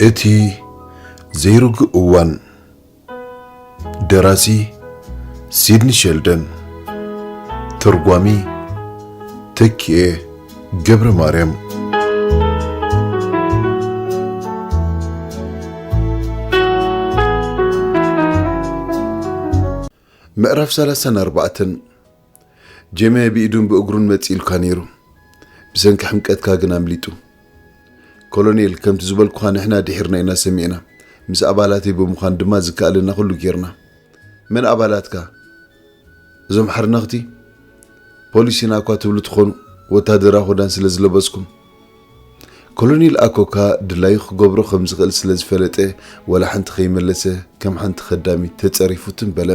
እቲ ዘይርጉእ እዋን ደራሲ ሲድኒ ሸልደን ተርጓሚ ተኪኤ ገብረ ማርያም ምዕራፍ ሰላሳን ኣርባዕተን ጀሜ ብኢዱን ብእግሩን መጺኡልካ ነይሩ፣ ብሰንኪ ሕምቀትካ ግን ኣምሊጡ። ኮሎኔል፣ ከምቲ ዝበልኩኻ ንሕና ድሒርና ኢና ሰሚዕና፣ ምስ ኣባላተይ ብምዃን ድማ ዝከኣለና ኩሉ ጌርና። መን ኣባላትካ? እዞም ሓርነኽቲ? ፖሊስ ኢና እኳ ትብሉ ትኾኑ፣ ወተሃደራዊ ክዳን ስለ ዝለበስኩም። ኮሎኔል ኣኮካ ድላዩ ክገብሮ ከም ዝኽእል ስለ ዝፈለጠ ዋላ ሓንቲ ከይመለሰ ከም ሓንቲ ከዳሚት ተጸሪፉ ትም በለ።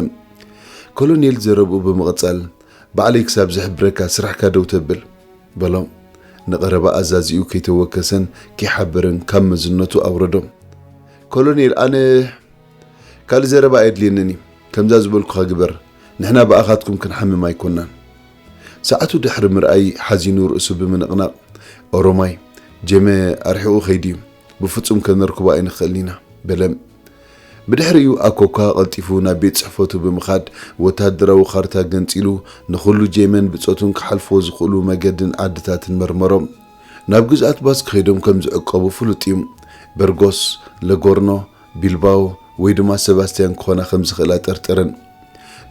ኮሎኔል ዘረብኡ ብምቕጻል ባዕለይ ክሳብ ዝሕብረካ ስራሕካ ደው ተብል። በሎ። ንቐረባ ኣዛዚኡ ከይተወከሰን ከይሓበረን ካብ መዝነቱ ኣውረዶ። ኮሎኔል ኣነ ካልእ ዘረባ ኣየድልየንን እዩ። ከምዛ ዝበልኩኻ ግበር። ንሕና ብኣኻትኩም ክንሓምም ኣይኮናን። ሰዓቱ ድሕሪ ምርኣይ ሓዚኑ ርእሱ ብምንቕናቕ፣ ኦሮማይ፣ ጀመ ኣርሒቑ ከይዱ'ዩ፣ ብፍጹም ከነርክቦ ኣይንኽእልን ኢና፣ በለ። ብድሕሪኡ ኣኮኳ ቀልጢፉ ናብ ቤት ጽሕፈቱ ብምኻድ ወተሃደራዊ ካርታ ገንጺሉ ንኹሉ ጀመን ብጾቱን ክሓልፍዎ ዝኽእሉ መገድን ዓድታትን መርመሮ። ናብ ግዝኣት ባስክ ከይዶም ከም ዝዕቀቡ ፍሉጥ'ዩ፣ በርጎስ፣ ለጎርኖ፣ ቢልባኦ ወይ ድማ ሰባስቲያን ክኾና ከም ዝኽእላ ጠርጠረን።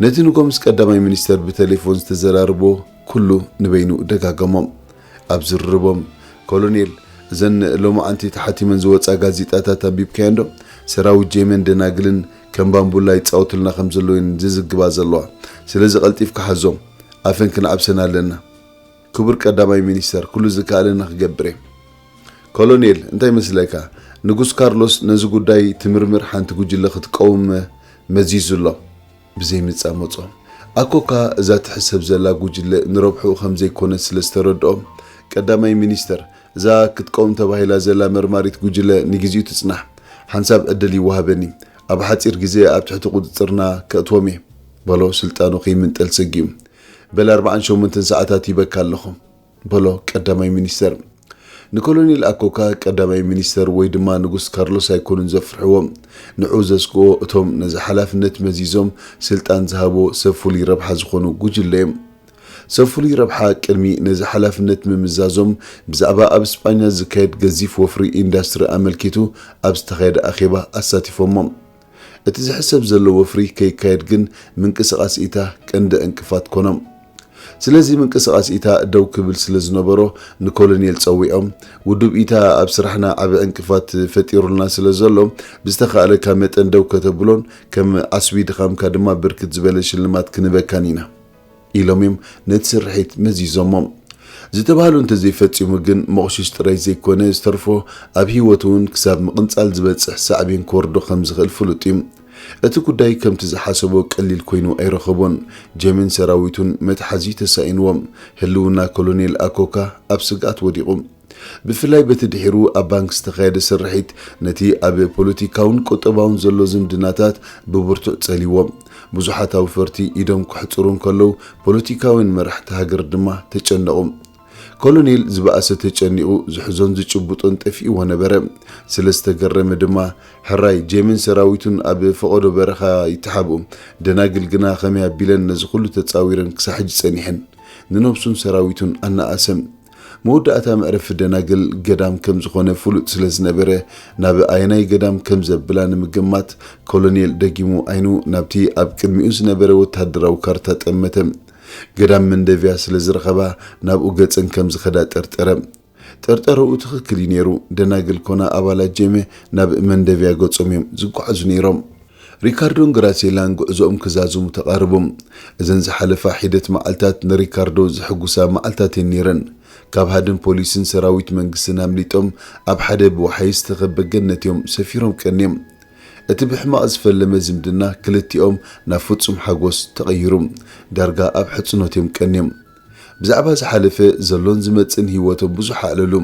ነቲ ንጎምስ ቀዳማይ ሚኒስተር ብተሌፎን ዝተዘራረቦ ኩሉ ንበይኑ ደጋገሞ። ኣብ ዝርርቦም፣ ኮሎኔል፣ እዘን ሎማዓንቲ ተሓቲመን ዝወጻ ጋዜጣታት ኣንቢብካየንዶ? ሰራዊት ጄመን ደናግልን ከም ባምቡላ ይጻወቱልና ከም ዘለዉየን ዝዝግባ ዘለዋ። ስለዚ ቀልጢፍካ ሓዞም። ኣፈን ክንዓብሰን ኣለና። ክቡር ቀዳማይ ሚኒስተር ኩሉ ዝከኣለኒ ክገብር እየ። ኮሎኔል እንታይ ይመስለካ ንጉስ ካርሎስ ነዚ ጉዳይ ትምርምር ሓንቲ ጉጅለ ክትቀውም መዚዙ ኣሎ ብዘይ ምጻመጾም ኣኮካ እዛ ትሕሰብ ዘላ ጉጅለ ንረብሕኡ ከም ዘይኮነት ስለ ዝተረድኦ ቀዳማይ ሚኒስተር እዛ ክትቀውም ተባሂላ ዘላ መርማሪት ጉጅለ ንግዜኡ ትጽናሕ ሓንሳብ ዕድል ይወሃበኒ ኣብ ሓጺር ግዜ ኣብ ትሕቲ ቁጽጽርና ከእትዎም እየ በሎ ስልጣኑ ከይምንጠል ሰጊኡ በል ኣርብዓን ሸሞንተን ሰዓታት ሂበካ ኣለኹ በሎ ቀዳማይ ሚኒስተር። ንኮሎኔል ኣኮካ ቀዳማይ ሚኒስተር ወይ ድማ ንጉስ ካርሎስ ኣይኮኑን ዘፍርሕዎ። ንዕኡ ዘስግኦ እቶም ነዚ ሓላፍነት መዚዞም ስልጣን ዝሃቦ ሰብ ፍሉይ ረብሓ ዝኾኑ ጉጅለ እዮም። ሰብ ፍሉይ ረብሓ ቅድሚ ነዚ ሓላፍነት ምምዛዞም ብዛዕባ ኣብ ስጳኛ ዝካየድ ገዚፍ ወፍሪ ኢንዳስትሪ ኣመልኪቱ ኣብ ዝተኻየደ ኣኼባ ኣሳቲፎሞም። እቲ ዝሕሰብ ዘሎ ወፍሪ ከይካየድ ግን ምንቅስቓስ ኢታ ቀንዲ ዕንቅፋት ኮኖም። ስለዚ ምንቅስቓስ ኢታ ደው ክብል ስለ ዝነበሮ ንኮሎኔል ጸዊዖም፣ ውዱብ ኢታ ኣብ ስራሕና ዓቢ ዕንቅፋት ፈጢሩልና ስለ ዘሎ ብዝተኻእለካ መጠን ደው ከተብሎን ከም ዓስቢ ድኻምካ ድማ ብርክት ዝበለ ሽልማት ክንህበካን ኢና። ኢሎም እዮም ነቲ ስርሒት መዚዞሞ። ዝተባህሎ እንተዘይፈጺሙ ግን መቑሽሽ ጥራይ ዘይኮነ ዝተርፎ ኣብ ህይወቱ እውን ክሳብ ምቕንጻል ዝበጽሕ ሳዕቤን ክወርዶ ከም ዝኽእል ፍሉጥ እዩ። እቲ ጉዳይ ከምቲ ዝሓሰቦ ቀሊል ኮይኑ ኣይረኸቦን። ጀምን ሰራዊቱን መትሓዚ ተሳኢንዎም። ህልውና ኮሎኔል ኣኮካ ኣብ ስግኣት ወዲቑ። ብፍላይ በቲ ድሒሩ ኣብ ባንክ ዝተኻየደ ስርሒት ነቲ ኣብ ፖለቲካውን ቁጠባውን ዘሎ ዝምድናታት ብብርቱዕ ጸልይዎ። ብዙሓት ኣውፈርቲ ኢዶም ከሕጽሩ እንከለዉ፣ ፖለቲካውያን መራሕቲ ሃገር ድማ ተጨነቑ። ኮሎኔል ዝበኣሰ ተጨኒቑ ዝሕዞን ዝጭብጦን ጠፊእዎ ነበረ። ስለ ዝተገረመ ድማ፣ ሕራይ ጄምን ሰራዊቱን ኣብ ፈቐዶ በረኻ ይተሓብኡ፣ ደናግል ግና ከመይ ኣቢለን ነዚ ኹሉ ተጻዊረን ክሳብ ሕጂ ጸኒሐን? ንነብሱን ሰራዊቱን ኣናኣሰ። መወዳእታ መዕረፊ ደናግል ገዳም ከም ዝኾነ ፍሉጥ ስለ ዝነበረ፣ ናብ ኣየናይ ገዳም ከም ዘብላ ንምግማት፣ ኮሎኔል ደጊሙ ዓይኑ ናብቲ ኣብ ቅድሚኡ ዝነበረ ወተሃደራዊ ካርታ ጠመተ። ገዳም መንደቪያ ስለ ዝረኸባ፣ ናብኡ ገጸን ከም ዝኸዳ ጠርጠረ። ጠርጠረኡ ትኽክል እዩ ነይሩ፣ ደናግል ኮና ኣባላት ጄመ ናብ መንደቪያ ገጾም እዮም ዝጓዓዙ ነይሮም። ሪካርዶን ግራሴላን ጉዕዞኦም ክዛዝሙ ተቓረቡ። እዘን ዝሓለፋ ሒደት መዓልታት ንሪካርዶ ዘሕጉሳ መዓልታት እየን ነይረን። ካብ ሃድን ፖሊስን ሰራዊት መንግስትን ኣምሊጦም ኣብ ሓደ ብወሓይዝ ዝተኸበ ገነት እዮም ሰፊሮም ቀንዮም። እቲ ብሕማቕ ዝፈለመ ዝምድና ክልቲኦም ናብ ፍጹም ሓጎስ ተቐይሩ። ዳርጋ ኣብ ሕጽኖት እዮም ቀንዮም። ብዛዕባ ዝሓለፈ፣ ዘሎን ዝመጽእን ህይወቶም ብዙሕ ኣዕለሉ።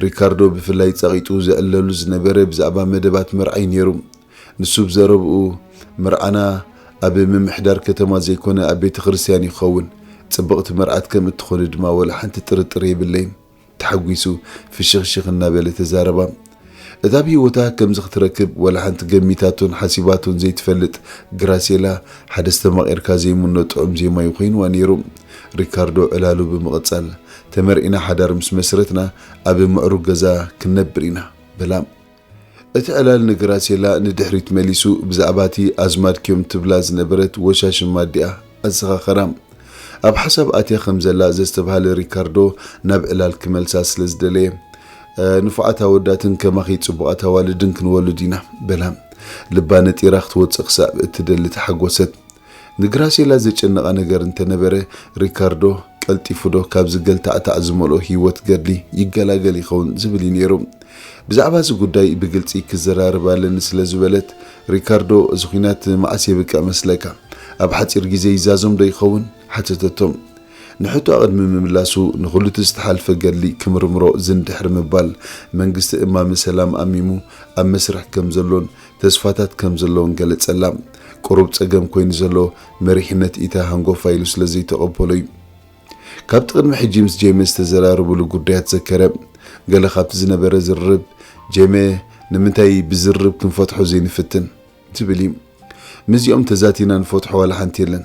ሪካርዶ ብፍላይ ጸቒጡ ዝዕለሉ ዝነበረ ብዛዕባ መደባት መርዓ'ዩ ነይሩ። ንሱ ብ ዘረብኡ፣ መርዓና ኣብ ምምሕዳር ከተማ ዘይኮነ ኣብ ቤተ ክርስትያን እዩ ክኸውን፣ ጽብቕቲ መርዓት ከም እትኾኒ ድማ ወላ ሓንቲ ጥርጥር የብለይን። ተሓጒሱ ፍሽኽሽኽ እናበለ ተዛረባ። እታ ኣብ ህይወታ ከምዚ ክትረክብ ወላ ሓንቲ ገሚታቶን ሓሲባቶን ዘይትፈልጥ ግራሴላ ሓደ ኣስተማቒርካ ዘይምኖ ጥዑም ዜማ'ዩ ኮይኑዋ ነይሩ። ሪካርዶ ዕላሉ ብምቕጻል፣ ተመርዒና ሓዳር ምስ መስረትና ኣብ ምዕሩግ ገዛ ክንነብር ኢና። በላ። እቲ ዕላል ንግራሴላ ንድሕሪት መሊሱ ብዛዕባ እቲ ኣዝማድኪ'ዮም ትብላ ዝነበረት ወሻሽም ኣዲኣ ኣዘኻኸራ። ኣብ ሓሳብ ኣትያ ከም ዘላ ዘስተብሃለ ሪካርዶ ናብ ዕላል ክመልሳ ስለ ዝደለየ፣ ንፉዓት ኣወዳትን ከማኺ ጽቡቓት ኣዋልድን ክንወልድ ኢና፣ በላ። ልባ ነጢራ ክትወጽእ ክሳብ እትደሊ ተሓጎሰት። ንግራሴላ ዘጨነቓ ነገር እንተ ነበረ፣ ሪካርዶ ቀልጢፉዶ ካብዚ ገልታዕታዕ ዝመልኦ ህይወት ገድሊ ይገላገል ይኸውን ዝብል እዩ ነይሩ። ብዛዕባ እዚ ጕዳይ ብግልጺ ክዘራረብ ኣለኒ ስለ ዝበለት፣ ሪካርዶ እዚ ኲናት መዓስ የብቅዕ መስለካ? ኣብ ሓጺር ግዜ ይዛዘምዶ ይኸውን? ሓተተቶ። ንሕቶኣ ቅድሚ ምምላሱ፣ ንዅሉቲ ዝተሓልፈ ገድሊ ክምርምሮ ዝን ድሕሪ ምባል፣ መንግስቲ እማመ ሰላም ኣሚሙ ኣብ መስርሕ ከም ዘሎን፣ ተስፋታት ከም ዘለወን ገለጸላ። ቁሩብ ጸገም ኮይኑ ዘሎ መሪሕነት ኢታ ሃንጎፋ ኢሉ ስለ ዘይተቐበሎ እዩ። ካብቲ ቅድሚ ሕጂ ምስ ጄሜ ዝተዘራረብሉ ጉዳያት ዘከረ። ገለ ካብቲ ዝነበረ ዝርርብ፣ ጄሜ ንምንታይ ብዝርርብ ክንፈትሖ ዘይንፍትን? ዝብል እዩ። ምስዚኦም ተዛቲና ንፈትሖ ዋላ ሓንቲ የለን።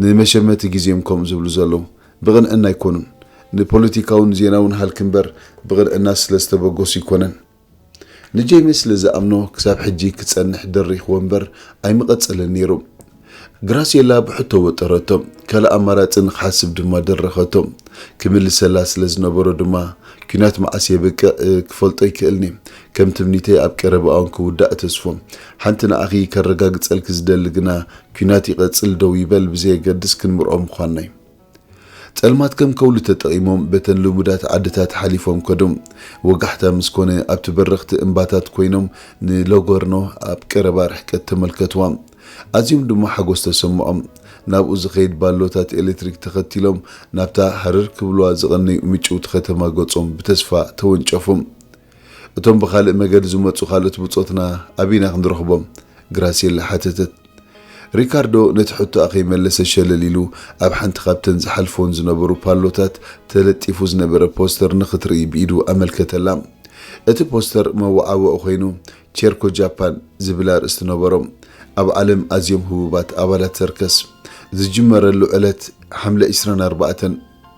ንመሸመቲ ግዜ እዮም ከምኡ ዝብሉ ዘለዉ። ብቕንዕና ኣይኮኑን። ንፖለቲካውን ዜናውን ሃልኪ እምበር ብቕንዕና ስለ ዝተበገሱ ኣይኮነን። ንጄሚ ስለ ዝኣምኖ ክሳብ ሕጂ ክጸንሕ ደሪኽዎ እምበር ኣይምቐጸለን ነይሩ። ግራስየላ ብሕቶ ወጠረቶ፣ ካልእ ኣማራጺ ንኽሓስብ ድማ ደረኸቶ። ክምልሰላ ስለ ዝነበሮ ድማ፣ ኲናት መዓስ የብቅዕ ክፈልጦ ኣይክእልን'የ። ከም ትምኒተይ ኣብ ቀረባ'ውን ክውዳእ እተስፎ። ሓንቲ ንዓኺ ከረጋግጸልኪ ዝደሊ ግና፣ ኲናት ይቐጽል ደው ይበል ብዘየገድስ ክንምርዖ ምዃንና'ዩ። ጸልማት ከም ከውሊ ተጠቒሞም በተን ልሙዳት ዓድታት ሓሊፎም ከዱ። ወጋሕታ ምስ ኮነ ኣብቲ በረኽቲ እምባታት ኮይኖም ንሎጎርኖ ኣብ ቀረባ ርሕቀት ተመልከቱዋ። ኣዝዮም ድማ ሓጎስ ተሰምዖም። ናብኡ ዝኸይድ ባሎታት ኤለትሪክ ተኸቲሎም ናብታ ሃረር ክብሉዋ ዝቐነዩ ምጭውቲ ከተማ ገጾም ብተስፋ ተወንጨፉ። እቶም ብኻልእ መገዲ ዝመጹ ካልኦት ብጾትና ኣበይ'ና ክንረኽቦም? ግራሴላ ሓተተት። ሪካርዶ ነቲ ሕቶኣ ከይመለሰ ሸለል ኢሉ ኣብ ሓንቲ ካብተን ዝሓልፍወን ዝነበሩ ፓሎታት ተለጢፉ ዝነበረ ፖስተር ንኽትርኢ ብኢዱ ኣመልከተላ። እቲ ፖስተር መወዓውዒ ኰይኑ ቼርኮ ጃፓን ዝብል ኣርእስቲ ነበሮ። ኣብ ዓለም ኣዝዮም ህቡባት ኣባላት ሰርከስ። ዝጅመረሉ ዕለት ሓምለ ዕስራን ኣርባዕተን፣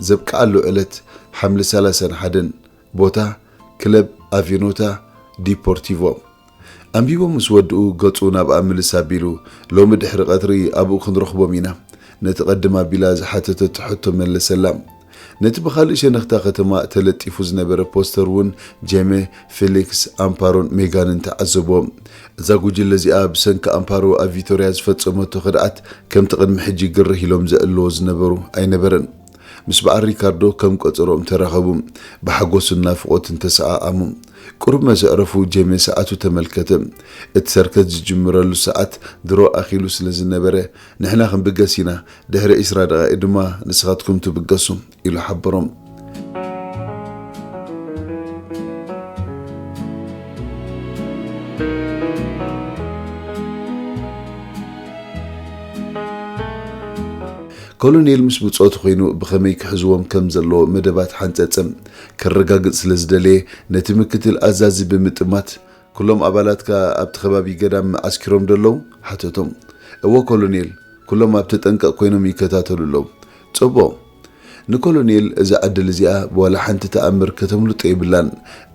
ዘብቅዓሉ ዕለት ሓምለ ሰላሳን ሓደን። ቦታ፣ ክለብ ኣቬኖታ ዲፖርቲቮ። ኣንቢቦም ምስ ወድኡ ገጹ ናብኣ ምልስ ኣቢሉ፣ ሎሚ ድሕሪ ቀትሪ ኣብኡ ክንረኽቦም ኢና። ነቲ ቀድም ኣቢላ ዝሓተተቶ ሕቶ መለሰላ። ነቲ ብኻልእ ሸነኽ'ታ ከተማ ተለጢፉ ዝነበረ ፖስተር'ውን ጄመ፣ ፊሊክስ፣ ኣምፓሮን ሜጋንን ተዓዘቦ። እዛ ጉጅለ እዚኣ ብሰንኪ ኣምፓሮ ኣብ ቪቶርያ ዝፈጸመቶ ከድዓት ከምቲ ቅድሚ ሕጂ ግርህ ኢሎም ዘዕልልዎ ዝነበሩ ኣይነበረን። ምስ በዓል ሪካርዶ ከም ቀጸሮኦም ተራኸቡ። ብሓጎስን ናፍቖትን ተሰኣኣሙ። ቅሩብ መሰ'ዕረፉ ጀሜ ሰዓቱ ተመልከተ። እቲ ሰርከስ ዝጅምረሉ ሰዓት ድሮ ኣኺሉ ስለ ዝነበረ፣ ንሕና ክንብገስ ኢና፣ ድሕሪ ዕስራ ደቓይቕ ድማ ንስኻትኩም ትብገሱ፣ ኢሉ ሓበሮም። ኮሎኔል ምስ ብጾቱ ኮይኑ ብኸመይ ክሕዝዎም ከም ዘለዎ መደባት ሓንጸጸ ከረጋግጽ ስለ ዝደለየ ነቲ ምክትል ኣዛዚ ብምጥማት፣ ኩሎም ኣባላትካ ኣብቲ ከባቢ ገዳም ዓስኪሮም ዶ ኣለዉ? ሓተቶም። እወ ኮሎኔል፣ ኩሎም ኣብ ተጠንቀቕ ኮይኖም ይከታተሉ ኣለዉ። ጽቡቕ! ንኮሎኔል እዛ ዕድል እዚኣ ብዋላ ሓንቲ ተኣምር ከተምልጦ የብላን።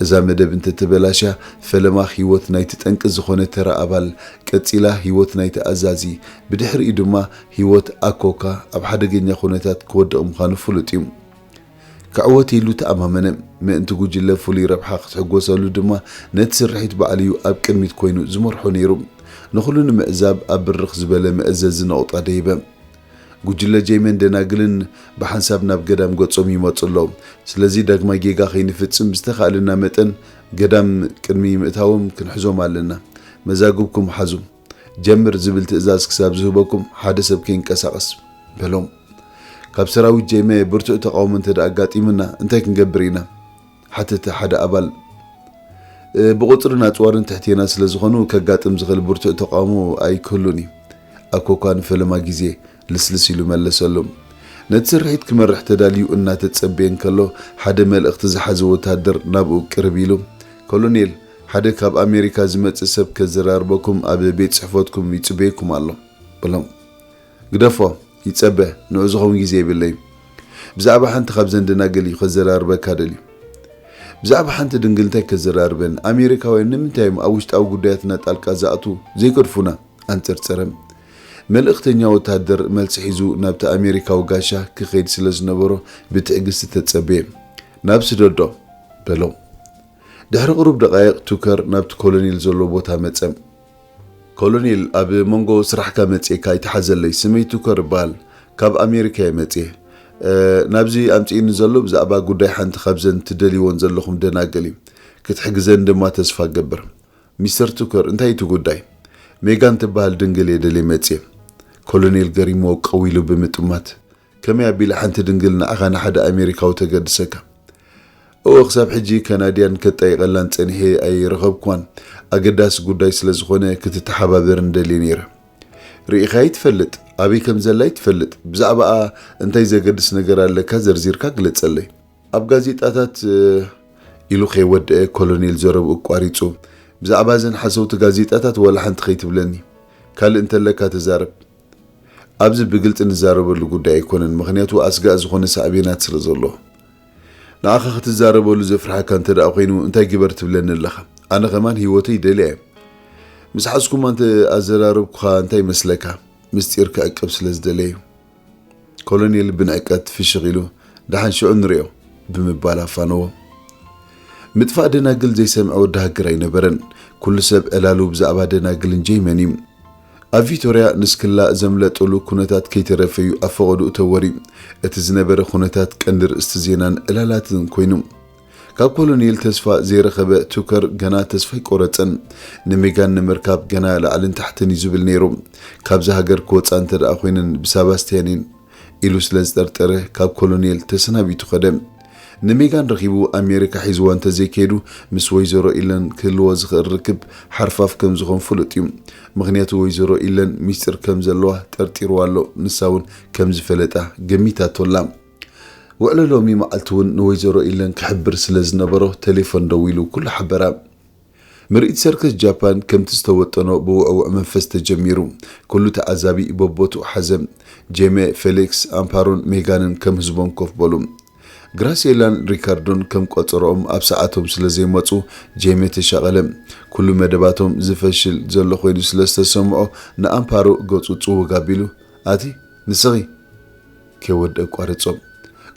እዛ መደብ እንተ ተበላሽያ ፈለማ ህይወት ናይቲ ጠንቂ ዝኾነ ተራ ኣባል ቀጺላ ህይወት ናይቲ ኣዛዚ ብድሕሪኡ ድማ ህይወት ኣኮካ ኣብ ሓደገኛ ኩነታት ክወድቕ ምዃኑ ፍሉጥ እዩ። ክዕወት ኢሉ ተኣማመነ፣ ምእንቲ ጉጅለ ፍሉይ ረብሓ ክትሕጎሰሉ ድማ ነቲ ስርሒት ባዕሉ እዩ ኣብ ቅድሚት ኮይኑ ዝመርሖ ነይሩ። ንኹሉ ንምዕዛብ ኣብ ብርኽ ዝበለ መእዘዚ ነቑጣ ደይበ። ጉጅለ ጀይመን ደናግልን ብሓንሳብ ናብ ገዳም ገጾም ይመጹ ኣለዉ፣ ስለዚ ዳግማይ ጌጋ ከይንፍጽም ብዝተኻእለና መጠን ገዳም ቅድሚ ምእታዎም ክንሕዞም ኣለና። መዛግብኩም ሓዙ። ጀምር ዝብል ትእዛዝ ክሳብ ዝህበኩም ሓደ ሰብ ከይንቀሳቐስ በሎም። ካብ ሰራዊት ጀይመ ብርቱዕ ተቓውሞ እንተድኣ ኣጋጢሙና እንታይ ክንገብር ኢና? ሓተተ ሓደ ኣባል። ብቑጽርን ኣጽዋርን ትሕቴና ስለ ዝኾኑ ከጋጥም ዝኽእል ብርቱዕ ተቓውሞ ኣይክህሉን እዩ። ኣኮኳ ንፈለማ ግዜ ልስልስ ኢሉ መለሰሉ። ነቲ ስርሒት ክመርሕ ተዳልዩ እናተጸበየ እንከሎ፣ ሓደ መልእኽቲ ዝሓዘ ወተሃደር ናብኡ ቅርብ ኢሉ፣ ኮሎኔል፣ ሓደ ካብ ኣሜሪካ ዝመጽእ ሰብ ከዘራርበኩም ኣብ ቤት ጽሕፈትኩም ይጽበየኩም ኣሎ። በሎም። ግደፎ፣ ይጸበ፣ ንዑኡ ዝኸውን ግዜ የብለይን። ብዛዕባ ሓንቲ ካብዘን ደናግል እዩ ከዘራርበካ ደልዩ። ብዛዕባ ሓንቲ ድንግል እንታይ ከዘራርበኒ? ኣሜሪካውያን ንምንታይ እዮም ኣብ ውሽጣዊ ጉዳያትና ጣልቃ ዝኣትዉ? ዘይገድፉና? ኣንጸርጸረ። መልእኽተኛ ወተሃደር መልሲ ሒዙ ናብቲ ኣሜሪካዊ ጋሻ ክኸይድ ስለ ዝነበሮ ብትዕግስቲ ተጸበየ። ናብ ስደዶ! በሎ። ድሕሪ ቕሩብ ደቓይቕ ቱከር ናብቲ ኮሎኔል ዘሎ ቦታ መጸ። ኮሎኔል፣ ኣብ መንጎ ስራሕካ መጺኤካ ኣይትሓዘለይ፣ ስመይ ቱከር እበሃል፣ ካብ ኣሜሪካ'የ መጺኤ። ናብዚ ኣምጺኡኒ ዘሎ ብዛዕባ ጉዳይ ሓንቲ ካብዘን ትደልይወን ዘለኹም ደናግል'ዩ። ክትሕግዘኒ ድማ ተስፋ እገብር። ሚስተር ቱከር እንታይ እዩ እቲ ጉዳይ? ሜጋን ትበሃል ድንግል እየ ደልየ መጽየ። ኮሎኔል ገሪምዎ ቀው ኢሉ ብምጥማት፣ ከመይ ኣቢለ ሓንቲ ድንግል ንዓኻ ንሓደ ኣሜሪካዊ ተገድሰካ? እወ ክሳብ ሕጂ ከናድያን ከጣይቐላን ጸኒሐ ኣይረኸብክዋን፣ ኣገዳሲ ጉዳይ ስለ ዝኾነ ክትተሓባበርኒ ደልየ ነይረ። ርኢኻያ ኣይትፈልጥ፣ ኣበይ ከም ዘላ ኣይትፈልጥ፣ ብዛዕባኣ እንታይ ዘገድስ ነገር ኣለካ ዘርዚርካ ግለጸለይ። ኣብ ጋዜጣታት ኢሉ ከይወደኣ ኮሎኔል ዘረብኡ ኣቋሪጹ፣ ብዛዕባ እዘን ሓሰውቲ ጋዜጣታት ዋላ ሓንቲ ከይትብለኒ፣ ካልእ እንተለካ ተዛረብ፣ ኣብዚ ብግልጺ ንዛረበሉ ጉዳይ ኣይኮነን፣ ምኽንያቱ ኣስጋኢ ዝኾነ ሳዕቤናት ስለ ዘለዎ። ንዓኻ ክትዛረበሉ ዘፍርሓካ እንተድኣ ኮይኑ እንታይ ግበር ትብለኒ ኣለኻ? ኣነ ከማን ህይወተይ ይደልያ እየ። ምስ ሓዝኩማ እንተ ኣዘራረብኩኻ እንታይ ይመስለካ? ምስጢር ክዕቀብ ስለ ዝደለየ እዩ። ኮሎኔል ብንዕቀት ፍሽኽ ኢሉ ደሓን ሽዑ ንሪኦ ብምባል ኣፋነዎ። ምጥፋእ ደናግል ዘይሰምዐ ወዲ ሃገር ኣይነበረን። ኩሉ ሰብ ዕላሉ ብዛዕባ ደናግልን ጀይመን እዩ። ኣብ ቪቶርያ ንስክላ ዘምለጡሉ ኩነታት ከይተረፈ እዩ ኣብ ፈቐድኡ ተወርዩ። እቲ ዝነበረ ኩነታት ቀንዲ ርእስቲ ዜናን ዕላላትን ኮይኑ። ካብ ኮሎኔል ተስፋ ዘይረኸበ ቱከር ገና ተስፋ ኣይቆረጸን። ንሜጋን ንምርካብ ገና ላዕልን ታሕትን እዩ ዝብል ነይሩ። ካብዛ ሃገር ክወጻ እንተደኣ ኮይነን ብሳባስትያኒን ኢሉ ስለ ዝጠርጠረ ካብ ኮሎኔል ተሰናቢቱ ከደ። ንሜጋን ረኺቡ ኣሜሪካ ሒዝዋ እንተዘይከይዱ ምስ ወይዘሮ ኢለን ክህልዎ ዝኽእል ርክብ ሓርፋፍ ከም ዝኾን ፍሉጥ እዩ። ምኽንያቱ ወይዘሮ ኢለን ሚስጢር ከም ዘለዋ ጠርጢርዋ ኣሎ፣ ንሳ እውን ከም ዝፈለጣ ገሚታቶ ኣላ። ውዕሎ ሎሚ መዓልቲ እውን ንወይዘሮ ኢለን ክሕብር ስለ ዝነበሮ ተሌፎን ደዊሉ ኩሉ ሓበራ። ምርኢት ሰርከስ ጃፓን ከምቲ ዝተወጠኖ ብውዕዉዕ መንፈስ ተጀሚሩ። ኩሉ ተዓዛቢ በቦትኡ ሓዘ። ጄሜ፣ ፌሊክስ፣ ኣምፓሮን ሜጋንን ከም ህዝቦም ኮፍ በሉ። ግራሴላን ሪካርዶን ከም ቆጸርኦም ኣብ ሰዓቶም ስለ ዘይመጹ ጄሜ ተሻቐለ። ኩሉ መደባቶም ዝፈሽል ዘሎ ኮይኑ ስለ ዝተሰምዖ ንኣምፓሮ ገጹ ጽውግ ኣቢሉ ኣቲ ንስኺ! ከይወድእ ኣቋርጾም።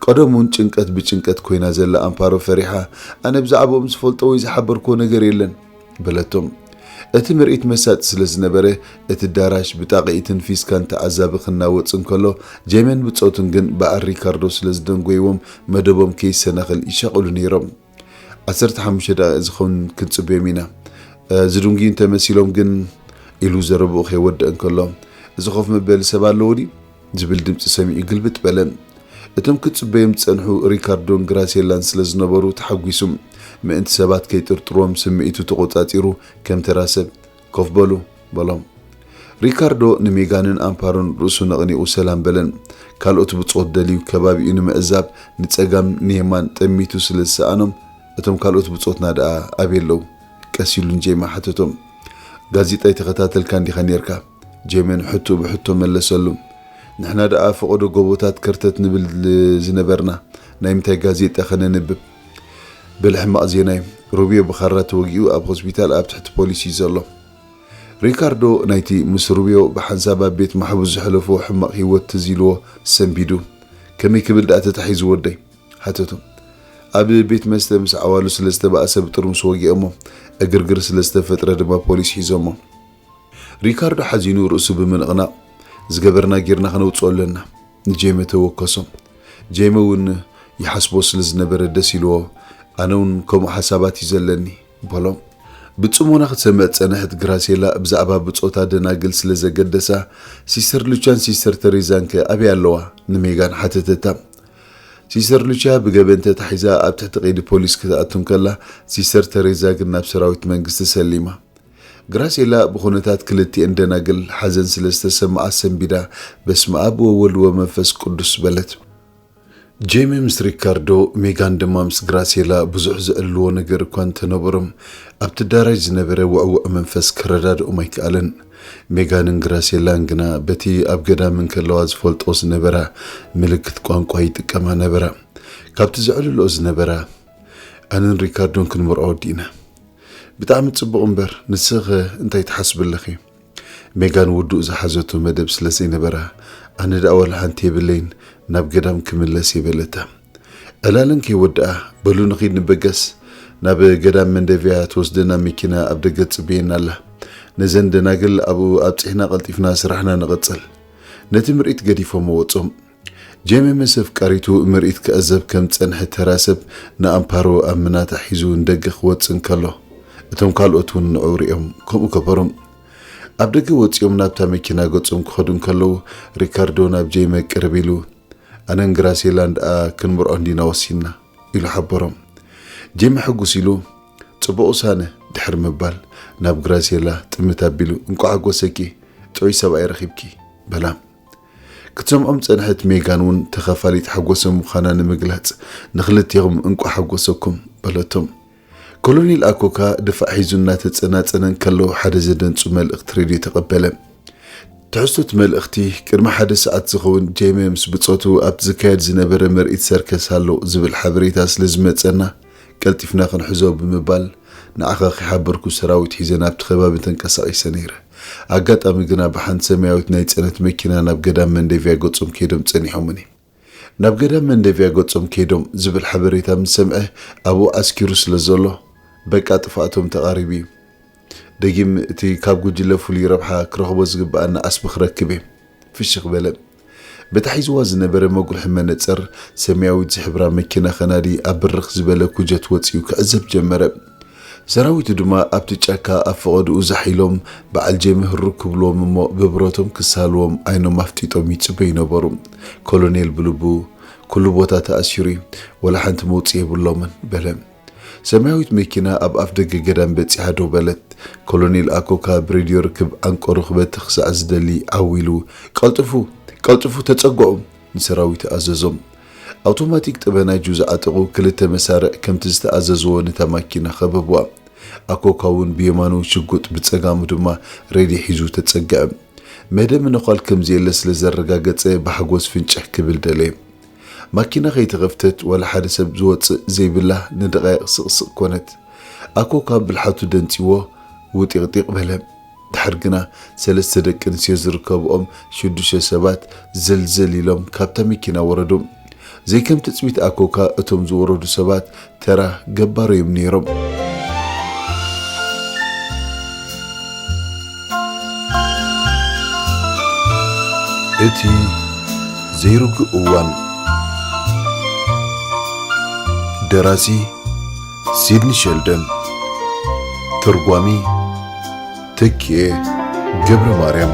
ቀደም ውን ጭንቀት ብጭንቀት ኮይና ዘላ ኣምፓሮ ፈሪሓ ኣነ ብዛዕብኦም ዝፈልጦ ወይ ዝሓበርክዎ ነገር የለን በለቶም። እቲ ምርኢት መሳጢ ስለ ዝነበረ እቲ ዳራሽ ብጣቂኢትን ፊስካን ተዓዛቢ ክናወጽ እንከሎ ጄሜን ብጾቱን ግን በዓል ሪካርዶ ስለ ዝደንጎይዎም መደቦም ከይሰናኸል ይሻቐሉ ነይሮም። ዓሰርተ ሓሙሽተ ደቂቕ ዝኸውን ክንጽበዮም ኢና። ዝድንጉዩ እንተ መሲሎም ግን ኢሉ ዘረብኡ ከይወድእ እንከሎ፣ እዚ ኮፍ መበሊ ሰብ ኣለዎ ድዩ? ዝብል ድምጺ ሰሚዑ ግልብጥ በለ። እቶም ክጽበዮም ዝጸንሑ ሪካርዶን ግራሴላን ስለ ዝነበሩ ተሓጒሱ። ምእንቲ ሰባት ከይጥርጥርዎም ስምዒቱ ተቖጻጺሩ ከም ተራ ሰብ ኮፍ በሉ በሎም። ሪካርዶ ንሜጋንን ኣምፓሮን ርእሱ ነቕኒቑ ሰላም በለን። ካልኦት ብጾት ደልዩ ከባቢኡ ንምዕዛብ ንጸጋም ንየማን ጠሚቱ ስለ ዝሰኣኖም እቶም ካልኦት ብጾትና ደኣ ኣበይ ኣለዉ? ቀስ ኢሉ ንጄማ ሓተቶም። ጋዜጣ ኣይተኸታተልካን እንዲኻ ኔርካ። ጄመን ሕቶኡ ብሕቶ መለሰሉ። ንሕና ደኣ ፈቐዶ ጎቦታት ከርተት ንብል ዝነበርና ናይ ምንታይ ጋዜጣ ከነንብብ? በል ሕማቅ ዜናዩ ሩብዮ ብኻራ ተወጊኡ ኣብ ሆስፒታል ኣብ ትሕቲ ፖሊስ እዩ ዘሎ። ሪካርዶ ናይቲ ምስ ሩብዮ ብሓንሳብ ኣብ ቤት ማሕቡስ ዘሕለፎ ሕማቅ ሂወት ትዝ ኢልዎ ሰንቢዱ ከመይ ክብል ድኣ ተታሒዙ ወደይ? ሓተቶ። ኣብ ቤት መስተ ምስ ዓዋሉ ስለ ዝተባእሰ ብጥርሙስ ወጊኦሞ ዕግርግር ስለ ዝተፈጥረ ድማ ፖሊስ ሒዞሞ። ሪካርዶ ሓዚኑ ርእሱ ብምንቕናቕ፣ ዝገበርና ጌርና ከነውጽኦ ኣለና። ንጄመ ተወከሶ። ጄሚ ውን ይሓስቦ ስለ ዝነበረ ደስ ኢልዎ ኣነ ውን ከምኡ ሓሳባት እዩ ዘለኒ በሎም። ብጽሞና ክትሰምዕ ዝጸንሐት ግራሴላ ብዛዕባ ብጾታ ደናግል ስለ ዘገደሳ ሲስተር ሉቻን ሲስተር ተሬዛን ከ ኣበይ ኣለዋ? ንሜጋን ሓተተታ። ሲስተር ሉቻ ብገበን ተታሒዛ ኣብ ትሕቲ ቀይዲ ፖሊስ ክትኣቱ እንከላ ሲስተር ተሬዛ ግን ናብ ሰራዊት መንግስቲ ሰሊማ። ግራሴላ ብኹነታት ክልቲኤን ደናግል ሓዘን ስለ ዝተሰመኣ ሰንቢዳ በስመኣብ ወወልድ ወመንፈስ ቅዱስ በለት። ጄሚ ምስ ሪካርዶ፣ ሜጋን ድማ ምስ ግራሴላ ብዙሕ ዘዕልልዎ ነገር እኳ እንተነበሮም፣ ኣብቲ ኣዳራሽ ዝነበረ ውዕዉዕ መንፈስ ከረዳድኦም ኣይከኣለን። ሜጋንን ግራሴላን ግና በቲ ኣብ ገዳም እንከለዋ ዝፈልጥኦ ዝነበራ ምልክት ቋንቋ ይጥቀማ ነበራ። ካብቲ ዘዕልልኦ ዝነበራ። ኣነን ሪካርዶን ክንመርዖ ወዲእና። ብጣዕሚ ጽቡቕ እምበር ንስኺኸ እንታይ ትሓስቢ ኣለኺ? ሜጋን ውዱእ ዝሓዘቶ መደብ ስለ ዘይነበራ ኣነ ደኣ ዋላ ሓንቲ የብለይን ናብ ገዳም ክምለስ እየ በለታ። ዕላለን ከይወድኣ በሉ ንኺድ ንበገስ ናብ ገዳም መንደቪያ ትወስደና መኪና ኣብ ደገ ትጽበየና ኣላ። ነዘን ደናግል ኣብኡ ኣብጺሕና ቀልጢፍና ስራሕና ንቕጽል። ነቲ ምርኢት ገዲፎሞ ወጾም። ጄሚ ምስ ኣፍቃሪቱ ምርኢት ክዕዘብ ከም ዝጸንሐ ተራ ሰብ ንኣምፓሮ ኣብ ምናታ ሒዙ ንደገ ክወጽእ እንከሎ፣ እቶም ካልኦት እውን ንዕኡ ርእዮም ከምኡ ገበሮም። ኣብ ደገ ወጺኦም ናብታ መኪና ገጾም ክኸዱ እንከለዉ፣ ሪካርዶ ናብ ጄሚ ቅርብ ኢሉ፣ ኣነን ግራሴላን ደኣ ክንምርዖ እንዲና ወሲንና፣ ኢሉ ሓበሮም። ጄሚ ሕጉስ ኢሉ፣ ጽቡቕ ውሳነ፣ ድሕሪ ምባል፣ ናብ ግራሴላ ጥምት ኣቢሉ፣ እንቋዕ ሓጎሰኪ፣ ጥዑይ ሰብኣይ ረኺብኪ፣ በላ። ክትሰምዖም ዝጸንሐት ሜጋን እውን ተኻፋሊት ሓጎሰ ምዃና ንምግላጽ፣ ንኽልቴኹም እንቋዕ ሓጎሰኩም! በለቶም። ኮሎኔል ኣኮካ ድፋዕ ሒዙ እናተጸናጸነ እንከሎ ሓደ ዘደንጹ መልእኽቲ ሬድዮ ተቐበለ። ትሕዝቶ እቲ መልእኽቲ፣ ቅድሚ ሓደ ሰዓት ዝኸውን ጄሜ ምስ ብጾቱ ኣብቲ ዝካየድ ዝነበረ ምርኢት ሰርከስ ኣሎ ዝብል ሓበሬታ ስለ ዝመጸና፣ ቀልጢፍና ክንሕዞ ብምባል ንዓኻ ከይሓበርኩ ሰራዊት ሒዘ ናብቲ ከባቢ ተንቀሳቒሰ ነይረ። ኣጋጣሚ ግና ብሓንቲ ሰማያዊት ናይ ጽዕነት መኪና ናብ ገዳም መንደቪያ ገጾም ከይዶም ጸኒሖሙኒ። ናብ ገዳም መንደቪያ ገጾም ከይዶም ዝብል ሓበሬታ ምስ ሰምዐ ኣብኡ ዓስኪሩ ስለ ዘሎ በቃ ጥፍኣቶም ተቓሪቡ'ዩ። ደጊም እቲ ካብ ጉጅለ ፍሉይ ረብሓ ክረኽቦ ዝግብኣኒ ዓስቢ ክረክብ'የ። ፍሽኽ በለ። በታ ሒዝዋ ዝነበረ መጉርሒ መነጸር ሰማያዊት ዝሕብራ መኪና ከናዲ ኣብ ብርኽ ዝበለ ኩጀት ወጺኡ ክዕዘብ ጀመረ። ሰራዊቱ ድማ ኣብቲ ጫካ ኣብ ፈቐድኡ ዛሕ ኢሎም በዓል ጀሚ ህሩግ ክብልዎም እሞ ብብረቶም ክሳልዎም ዓይኖም ኣፍጢጦም ይጽበዩ ነበሩ። ኮሎኔል ብልቡ፣ ኩሉ ቦታ ተኣሲሩ'ዩ፣ ወላ ሓንቲ መውጽኢ የብሎምን፣ በለ። ሰማያዊት መኪና ኣብ ኣፍደገ ገዳም በጺሓ ደው በለት። ኮሎኔል ኣኮካ ብሬድዮ ርክብ ዓንቀሩ ክበቲ ክሳዕ ዝደሊ ዓው ኢሉ፣ ቀልጥፉ! ቀልጥፉ! ተጸግዑ! ንሰራዊቱ ኣዘዞም። ኣውቶማቲክ ጠበናጁ ዝዓጠቑ ክልተ መሳርዕ ከምቲ ዝተኣዘዝዎ ነታ ማኪና ከበቡዋ። ኣኮካ'ውን ብየማኑ ሽጉጥ ብጸጋሙ ድማ ሬድዮ ሒዙ ተጸግዐ። መደምነዃል ከም ዘየለ ስለ ዘረጋገጸ ብሓጎስ ፍንጭሕ ክብል ደለየ። ማኪና ከይተኸፍተት ዋላ ሓደ ሰብ ዝወጽእ ዘይብላ ንደቓይቕ ስቕ ስቕ ኮነት። ኣኮካ ብልሓቱ ደንጺዎ ውጢቕጢቕ በለ። ደሓር ግና ሰለስተ ደቂ ኣንስትዮ ዝርከብኦም ሽዱሽተ ሰባት ዘልዘል ኢሎም ካብታ መኪና ወረዱ። ዘይከም ትጽቢት ኣኮካ እቶም ዝወረዱ ሰባት ተራ ገባር እዮም ነይሮም። እቲ ዘይርጉእ እዋን ደራሲ ሲድኒ ሸልደን ተርጓሚ ተኪኤ ገብረ ማርያም